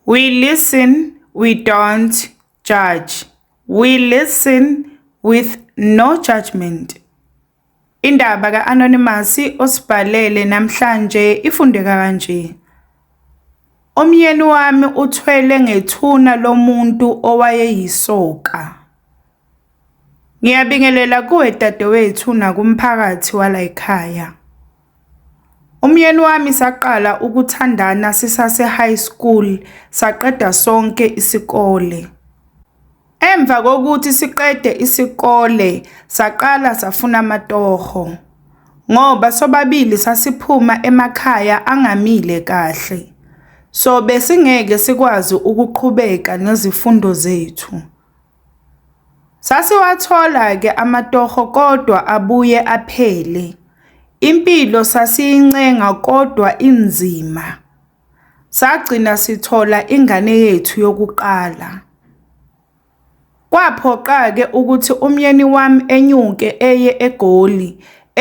We listen, we don't judge. We listen with no judgment. Indaba ka-Anonymous osibhalele namhlanje ifundeka kanje. Umyeni wami uthwele ngethuna lomuntu owayeyisoka. Ngiyabingelela kuwe dadewethu nakumphakathi walayikhaya. Umyeni wami saqala ukuthandana sisase-high school, saqeda sonke isikole. Emva kokuthi siqede isikole saqala safuna amatoho ngoba sobabili sasiphuma emakhaya angamile kahle. So besingeke sikwazi ukuqhubeka nezifundo zethu. Sasiwathola-ke amatoho kodwa abuye aphele. Impilo sasiyincenga kodwa inzima. Sagcina sithola ingane yethu yokuqala. Kwaphoqa-ke ukuthi umyeni wami enyuke eye eGoli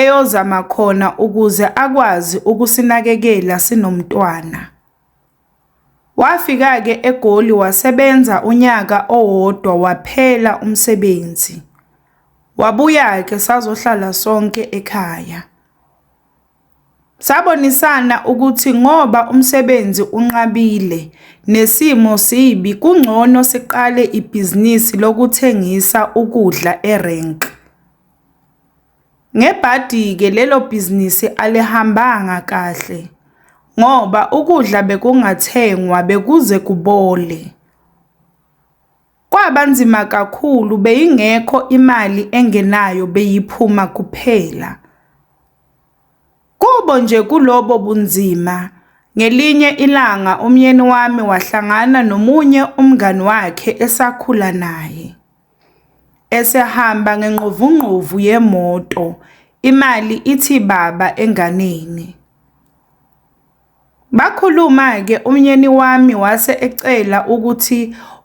eyozama khona ukuze akwazi ukusinakekela sinomntwana. Wafika-ke eGoli wasebenza unyaka owodwa waphela umsebenzi. Wabuya-ke sazohlala sonke ekhaya. Sabonisana ukuthi ngoba umsebenzi unqabile nesimo sibi kungcono siqale ibhizinisi lokuthengisa ukudla erenk. Ngebhadi-ke lelo bhizinisi alihambanga kahle ngoba ukudla bekungathengwa bekuze kubole. Kwaba nzima kakhulu beyingekho imali engenayo beyiphuma kuphela. Kubo nje kulobo bunzima ngelinye ilanga umyeni wami wahlangana nomunye umngani wakhe esakhula naye. Esehamba ngengqovungqovu yemoto, imali ithi baba enganeni. Bakhuluma-ke umyeni wami wase ecela ukuthi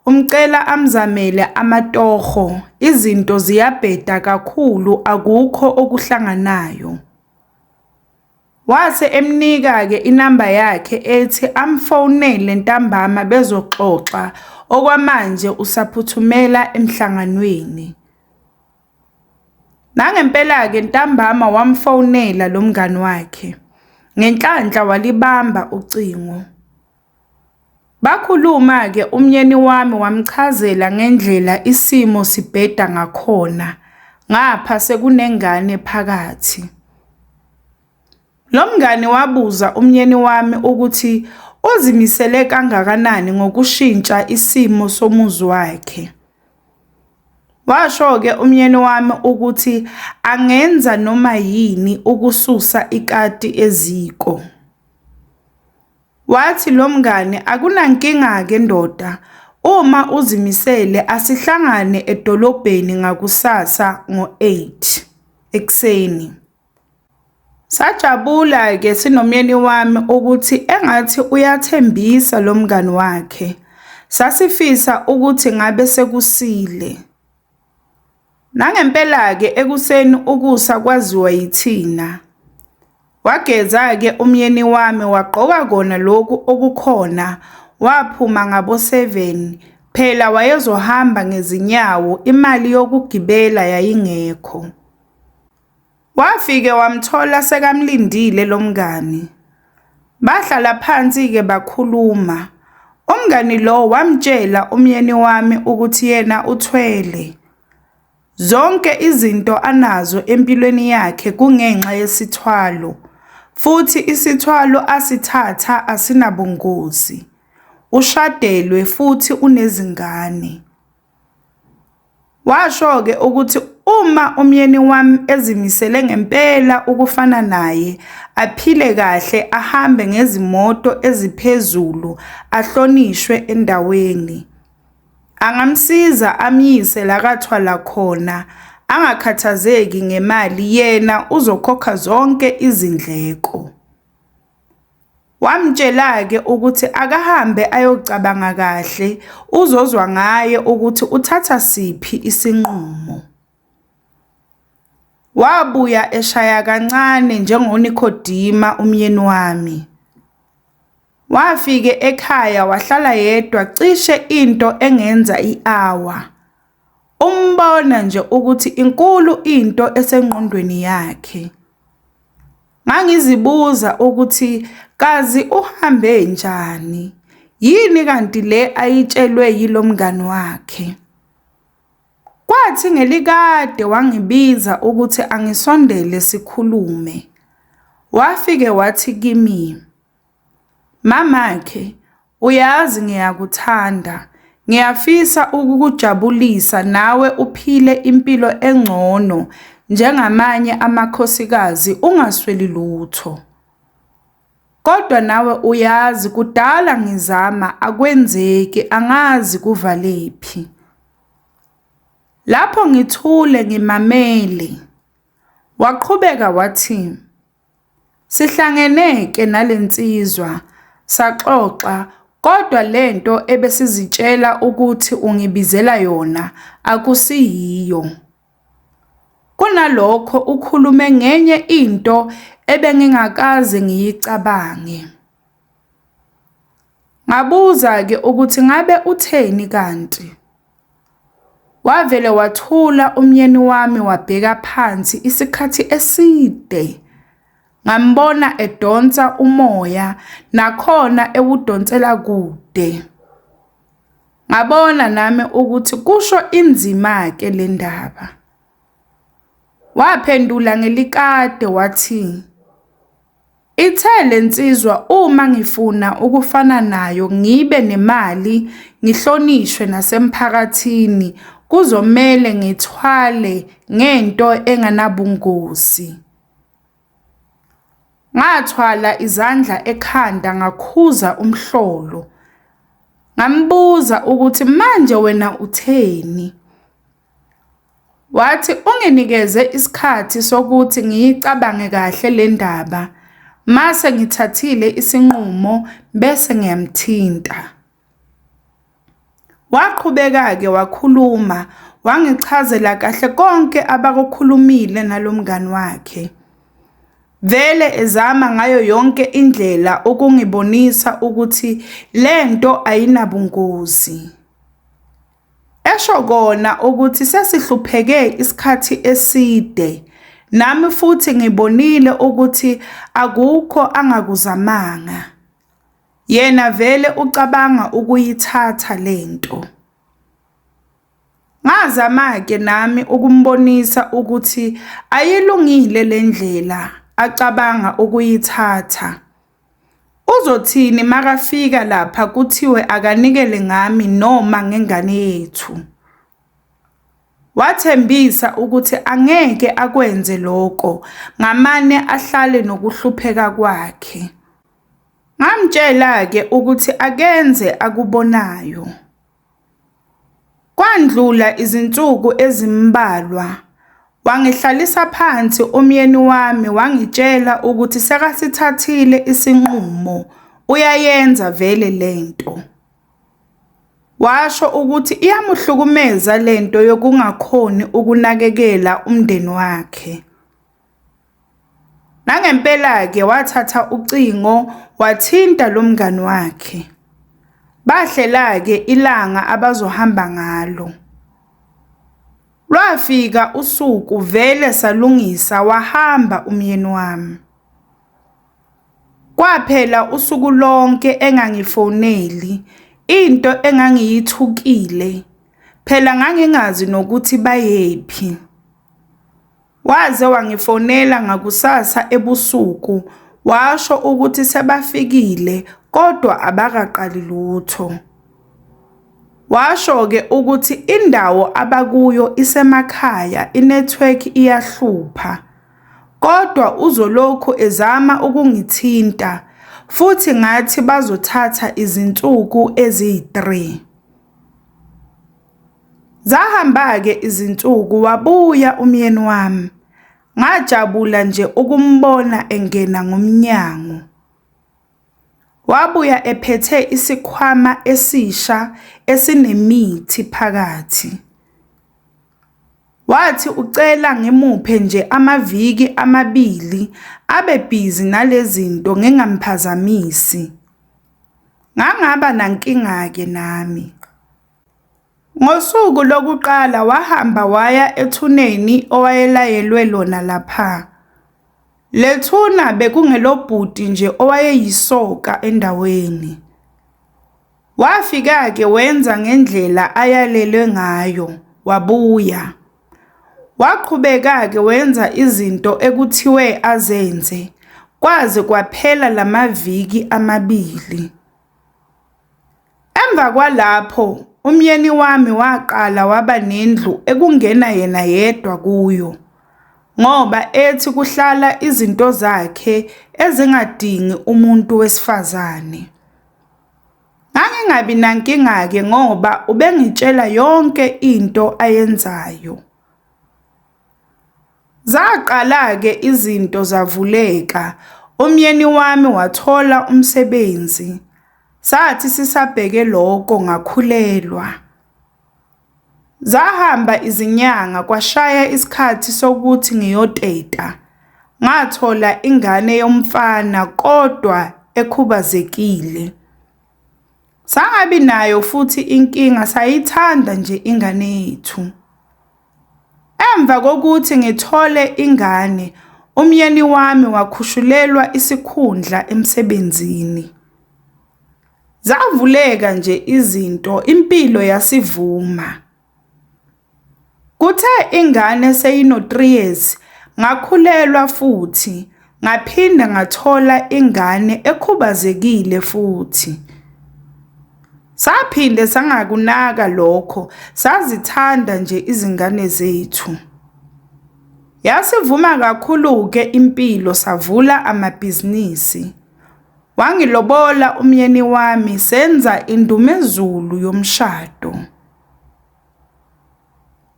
umcela amzamele amatoho, izinto ziyabheda kakhulu akukho okuhlanganayo. Wase emnika-ke inamba yakhe ethi amfonele ntambama bezoxoxa, okwamanje usaphuthumela emhlanganweni. Nangempela-ke ntambama wamfonela lo mngani wakhe, ngenhlanhla walibamba ucingo. Bakhuluma-ke umyeni wami wamchazela ngendlela isimo sibheda ngakhona ngapha sekunengane phakathi. Lo mngani wabuza umyeni wami ukuthi uzimisele kangakanani ngokushintsha isimo somuzi wakhe. Washo-ke umyeni wami ukuthi angenza noma yini ukususa ikati eziko. Wathi lo mngani, Akunankinga-ke ndoda, uma uzimisele asihlangane edolobheni ngakusasa ngo-eight ekuseni. Sajabula-ke sinomyeni wami ukuthi engathi uyathembisa lo mngani wakhe. Sasifisa ukuthi ngabe sekusile. Nangempela-ke ekuseni ukusa kwaziwa yithina. Wageza-ke umyeni wami wagqoka kona loku okukhona waphuma ngabo seven, phela wayezohamba ngezinyawo imali yokugibela yayingekho. Wafike wamthola sekamlindile lo mngani. Bahlala phansi-ke bakhuluma. Umngani lo wamtshela umyeni wami ukuthi yena uthwele. Zonke izinto anazo empilweni yakhe kungenxa yesithwalo, futhi isithwalo asithatha asinabungozi. Ushadelwe futhi unezingane. Washo-ke ukuthi uma umyeni wami ezimisele ngempela ukufana naye, aphile kahle, ahambe ngezimoto eziphezulu, ahlonishwe endaweni. Angamsiza amyise la kathwala khona, angakhathazeki ngemali yena uzokhokha zonke izindleko. Wamtshela-ke ukuthi akahambe ayocabanga kahle uzozwa ngaye ukuthi uthatha siphi isinqumo. Wabuya eshaya kancane njengoNikhodima umyeni wami. Wafike ekhaya wahlala yedwa cishe into engenza i-hour. Umbona nje ukuthi inkulu into esengqondweni yakhe. Ngangizibuza ukuthi kazi uhambe njani? Yini kanti le ayitshelwe yilo mngani wakhe? Kwathi ngelikade wangibiza ukuthi angisondele sikhulume. Wafike wathi kimi, Mamakhe, Uyazi ngiyakuthanda. Ngiyafisa ukukujabulisa nawe uphile impilo engcono njengamanye amakhosikazi ungasweli lutho. Kodwa nawe uyazi kudala ngizama akwenzeki angazi kuvalephi. Lapho ngithule ngimamele, waqhubeka wathi. Sihlangene ke nalensizwa saxoxa kodwa lento ebesizitshela ukuthi ungibizela yona akusiyiyo. Kunalokho ukhulume ngenye into ebengingakaze ngiyicabange. Ngabuza-ke ukuthi ngabe utheni kanti. Wavele wathula umyeni wami wabheka phansi isikhathi eside. Ngambona edonsa umoya nakhona ewudonsela kude. Ngabona nami ukuthi kusho inzima-ke le ndaba. Waphendula ngelikade wathi. Ithe le nsizwa uma ngifuna ukufana nayo ngibe nemali ngihlonishwe nasemphakathini kuzomele ngithwale ngento enganabungozi. Ngathwala izandla ekhanda ngakhuza umhlolo. Ngambuza ukuthi manje wena utheni? Wathi unginikeze isikhathi sokuthi ngiyicabange kahle le ndaba, mase ngithathile isinqumo bese ngiyamthinta. Waqhubeka-ke wakhuluma, wangichazela kahle konke abakukhulumile nalo mngani wakhe. Vele ezama ngayo yonke indlela ukungibonisa ukuthi le nto ayinabungozi. Esho kona ukuthi sesihlupheke isikhathi eside, nami futhi ngibonile ukuthi akukho angakuzamanga. Yena vele ucabanga ukuyithatha le nto. Ngazama-ke nami ukumbonisa ukuthi ayilungile le ndlela acabanga ukuyithatha. Uzothini makafika lapha kuthiwe akanikele ngami noma ngengane yethu? Wathembisa ukuthi angeke akwenze loko ngamane ahlale nokuhlupheka kwakhe. Ngamtshela ke ukuthi akenze akubonayo. Kwandlula izinsuku ezimbalwa, wangihlalisa phansi umyeni wami wangitshela ukuthi sekasithathile isinqumo, uyayenza vele le nto. Washo ukuthi iyamuhlukumeza le nto yokungakhoni ukunakekela umndeni wakhe. Nangempela-ke wathatha ucingo wathinta lo mngani wakhe. Bahlela-ke ilanga abazohamba ngalo. Lwafika usuku vele salungisa wahamba umyeni wami. Kwaphela usuku lonke engangifoneli into engangiyithukile phela ngangingazi nokuthi bayephi. Waze wangifonela ngakusasa ebusuku washo ukuthi sebafikile kodwa abakaqali lutho. Washo-ke ukuthi indawo abakuyo isemakhaya inethiwekhi iyahlupha kodwa uzolokhu ezama ukungithinta futhi ngathi bazothatha izinsuku eziyi-3. Zahamba-ke izinsuku wabuya umyeni wami, ngajabula nje ukumbona engena ngomnyango. Wabuya ephethe isikhwama esisha esinemithi phakathi. Wathi ucela ngimuphe nje amaviki amabili abe bhizi nale zinto ngingamphazamisi. Ngangaba nankinga-ke nami. Ngosuku lokuqala wahamba waya ethuneni owayelayelwe lona lapha. Le thuna bekungelobhuti nje owayeyisoka endaweni. Wafika-ke wenza ngendlela ayalelwe ngayo, wabuya. Waqhubeka-ke wenza izinto ekuthiwe azenze kwaze kwaphela la maviki amabili. Emva kwalapho, umyeni wami waqala waba nendlu ekungena yena yedwa kuyo ngoba ethi kuhlala izinto zakhe ezingadingi umuntu wesifazane. Ngangingabi nankinga-ke ngoba ubengitshela yonke into ayenzayo. Zaqala-ke izinto zavuleka, umyeni wami wathola umsebenzi. Sathi sisabheke lokho ngakhulelwa. Zahamba izinyanga kwashaya isikhathi sokuthi ngiyoteta, ngathola ingane yomfana kodwa ekhubazekile. Sangabi nayo futhi inkinga, sayithanda nje ingane yethu. Emva kokuthi ngithole ingane, umyeni wami wakhushulelwa isikhundla emsebenzini. Zavuleka nje izinto, impilo yasivuma. Kuthe ingane seyino-three years, ngakhulelwa futhi. Ngaphinde ngathola ingane ekhubazekile futhi. Saphinde sangakunaka lokho, sazithanda nje izingane zethu. Yasivuma kakhulu-ke impilo savula amabhizinisi. Wangilobola umyeni wami senza indumezulu yomshado.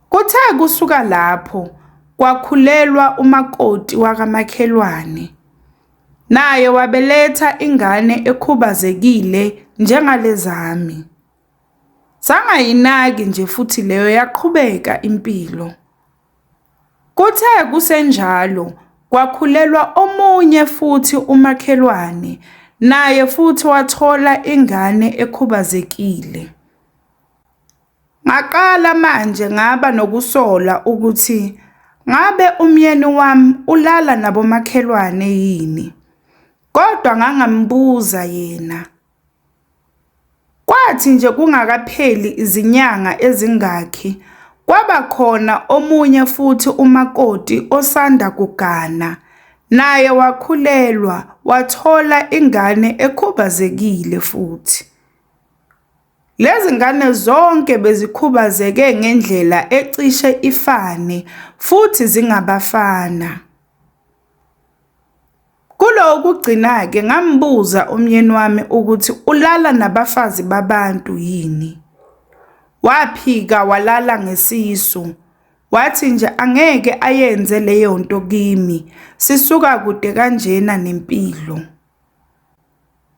Kuthe kusuka lapho kwakhulelwa umakoti wakamakhelwane, naye wabeletha ingane ekhubazekile njengalezami. Sangayinaki nje futhi leyo yaqhubeka impilo. Kuthe kusenjalo kwakhulelwa omunye futhi umakhelwane, naye futhi wathola ingane ekhubazekile. Ngaqala manje ngaba nokusola ukuthi ngabe umyeni wami ulala nabomakhelwane yini, kodwa ngangambuza yena. Kwathi nje kungakapheli izinyanga ezingakhi, kwaba khona omunye futhi umakoti osanda kugana, naye wakhulelwa, wathola ingane ekhubazekile futhi. Lezi ngane zonke bezikhubazeke ngendlela ecishe ifane futhi zingabafana. Kulowo kugcina-ke ngambuza umyeni wami ukuthi ulala nabafazi babantu yini. Waphika walala ngesisu. Wathi nje angeke ayenze leyo nto kimi, sisuka kude kanjena nempilo.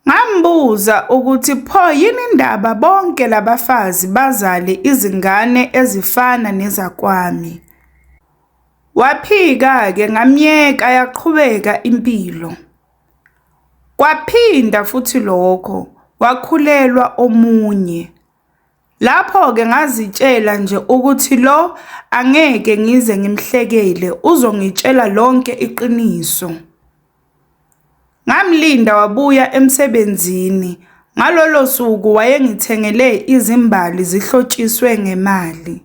Ngambuza ukuthi pho yini indaba bonke labafazi bazale izingane ezifana nezakwami. Waphika ke ngamyeka yaqhubeka impilo. Kwaphinda futhi lokho wakhulelwa omunye. Lapho ke ngazitshela nje ukuthi lo angeke ngize ngimhlekele uzongitshela lonke iqiniso. Ngamlinda wabuya emsebenzini. Ngalolo suku wayengithengele izimbali zihlotshiswe ngemali.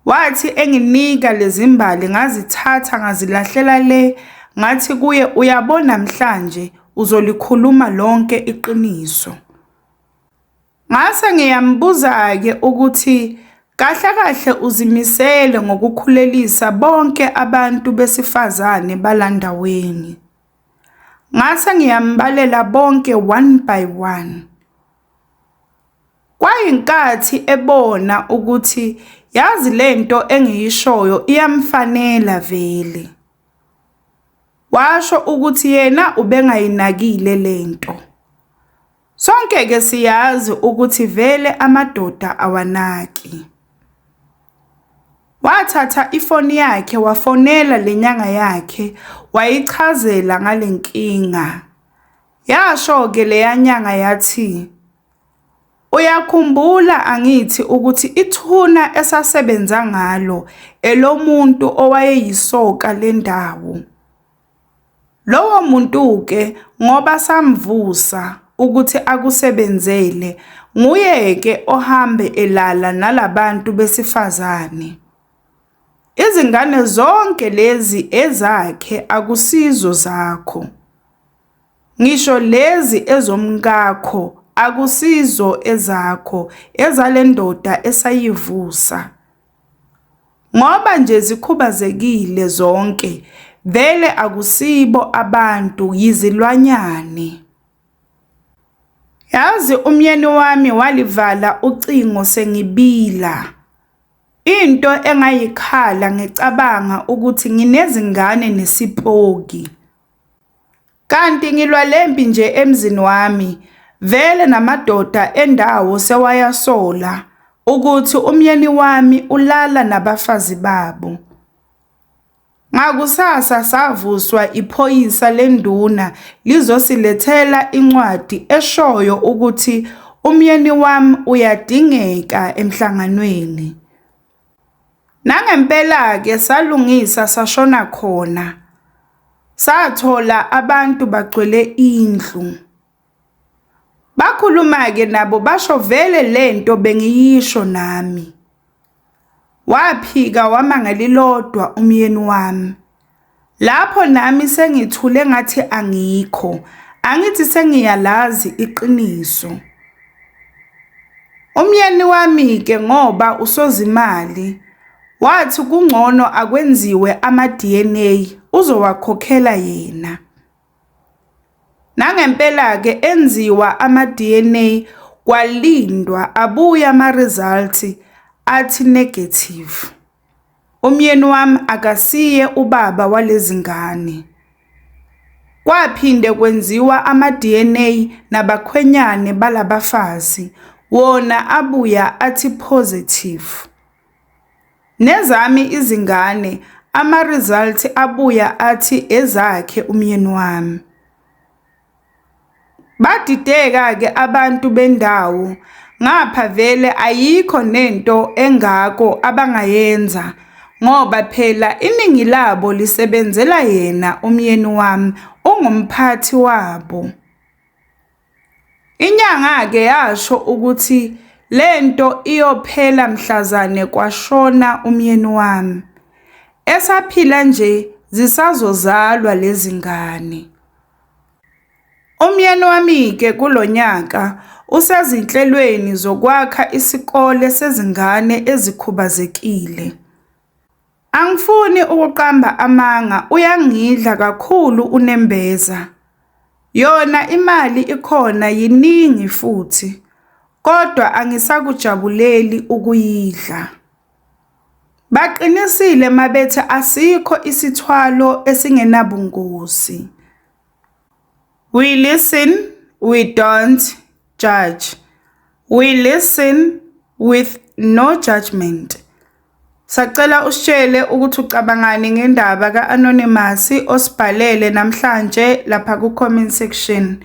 Wathi enginika lezimbali ngazithatha ngazilahlela le ngathi kuye uyabo namhlanje uzolikhuluma lonke iqiniso. Ngase ngiyambuza-ke ukuthi kahle kahle uzimisele ngokukhulelisa bonke abantu besifazane balandaweni. Ngase ngiyambalela bonke one by one. Kwayinkathi ebona ukuthi yazi lento engiyishoyo iyamfanela vele. Washo ukuthi yena ubengayinakile lento. Sonke ke siyazi ukuthi vele amadoda awanaki. Wathatha ifoni yakhe wafonela lenyanga yakhe wayichazela ngalenkinga. Yasho ke leyanyanga yathi Uyakhumbula angithi ukuthi ithuna esasebenza ngalo elomuntu owayeyisoka lendawo. Lowo muntu-ke ngoba samvusa ukuthi akusebenzele, nguye-ke ohambe elala nala bantu besifazane. Izingane zonke lezi ezakhe akusizo zakho. Ngisho lezi ezomkakho akusizo ezakho, ezale ndoda esayivusa. Ngoba nje zikhubazekile zonke vele akusibo abantu yizilwanyane. Yazi umyeni wami walivala ucingo sengibila. Into engayikhala ngicabanga ukuthi nginezingane nesipoki. Kanti ngilwa lempi nje emzini wami vele namadoda endawo sewayasola ukuthi umyeni wami ulala nabafazi babo. Ngakusasa savuswa iphoyisa lenduna lizosilethela incwadi eshoyo ukuthi umyeni wami uyadingeka emhlanganweni. Nangempela-ke salungisa sashona khona, sathola abantu bagcwele indlu. Bakhuluma-ke nabo basho vele le nto bengiyisho nami. Waphika wama ngelilodwa umyeni wami. Lapho nami sengithule ngathi angikho angithi sengiyalazi iqiniso. Umyeni wami-ke ngoba usozimali wathi kungcono akwenziwe ama-D_N_A uzowakhokhela yena. Nangempela-ke enziwa ama-D_N_A kwalindwa abuye ama-result athi negative. Umyeni wami akasiye ubaba walezi ngane. Kwaphinde kwenziwa ama-DNA nabakhwenyane bala bafazi, wona abuya athi positive. Nezami izingane ama-result abuya athi ezakhe umyeni wami. Badideka-ke abantu bendawo ngapha vele ayikho nento engako abangayenza ngoba phela iningi labo lisebenzela yena umyeni wami, ungumphathi wabo. Inyanga-ke yasho ukuthi le nto iyophela mhlazane kwashona umyeni wami. Esaphila nje zisazozalwa lezi ngane. Umyeni wami-ke kulo nyaka usezinhlelweni zokwakha isikole sezingane ezikhubazekile. Angifuni ukuqamba amanga uyangidla kakhulu unembeza. Yona imali ikhona yiningi futhi kodwa angisakujabuleli ukuyidla. Baqinisile uma bethi asikho isithwalo esingenabungozi. We listen, we don't judge. We listen with no judgment. Sacela usitshele ukuthi ucabangani ngendaba ka-anonymous osibhalele namhlanje lapha ku-comment section.